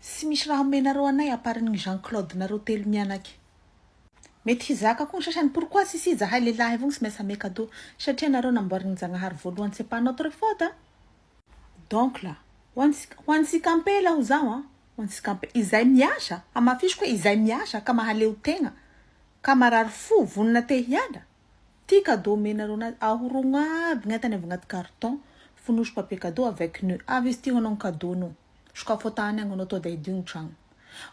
Tsy misy raha omenareo anay à part ny Jean Claude nareo telo mianaka. Mety hizaka koa ny sasany pourquoi tsisy izahay lehilahy avao no tsy maintsy ame cadeau satria nareo namboarin'i Njagnahary voalohany c'est pas notre faute a! Donc là, ho antsika, ho antsika ampela aho zaho a, ho antsika ampela, izay miasa, hamafisiko hoe izay miasa ka mahaleo tegna, ka marary fo, vonona te hiala, Ty cadeau omenareo anazy ahorogno aby ny entany avy agnaty carton fonosy papier cadeau avec nu avy izy ty ho anao ny cadeau nao sokafo atany agny anao to dia hidio ny tragno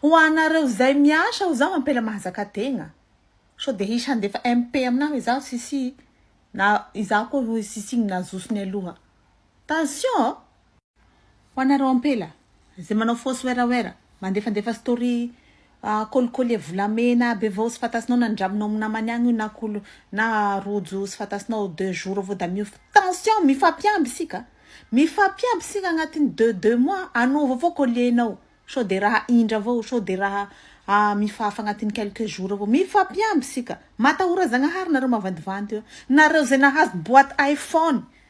ho anareo zay miasa ho zaho ampela mahazaka tegna so dia hisy handefa MP aminah hoe izaho sisy na izaho koa hoy sisy igny nazoso ny aloha tension a. Ho anareo ampela Zay manao fausse werawera, mandefandefa story collier volamena be vao tsy fantasinao na nindramina ao am namany agny io na col na rojo tsy fantasinao deux jours vao da miova tension mifampiamby isika mifampiamby isika agnatin'ny deux deux mois anova avao collier nao sao de raha indra avao sao de raha mifahafa agnatin'ny quelques jours avao mifampiamby isika matahora zagnahary nareo mavandivandy eo nareo zay nahazo boite iphone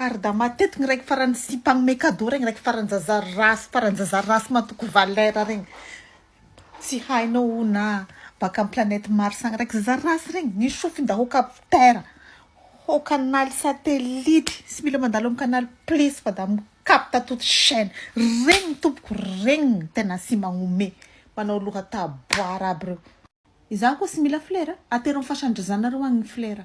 Ary da matetiky ny raiky farany sipa anome cadeau regny raiky farany zazary ratsy farany zazary ratsy matoky valera regny tsy hainao o na baka am planète mars agny raiky zazary ratsy regny ny sofiny da ho capter ho canal satellite tsy mila mandalo am canal plus fa da mi capte toute chaine regny tompoko regny no tena tsy magnome manao loha taboara aby reo izany koa tsy mila flera atero am fasan-dry zanareo agny ny flera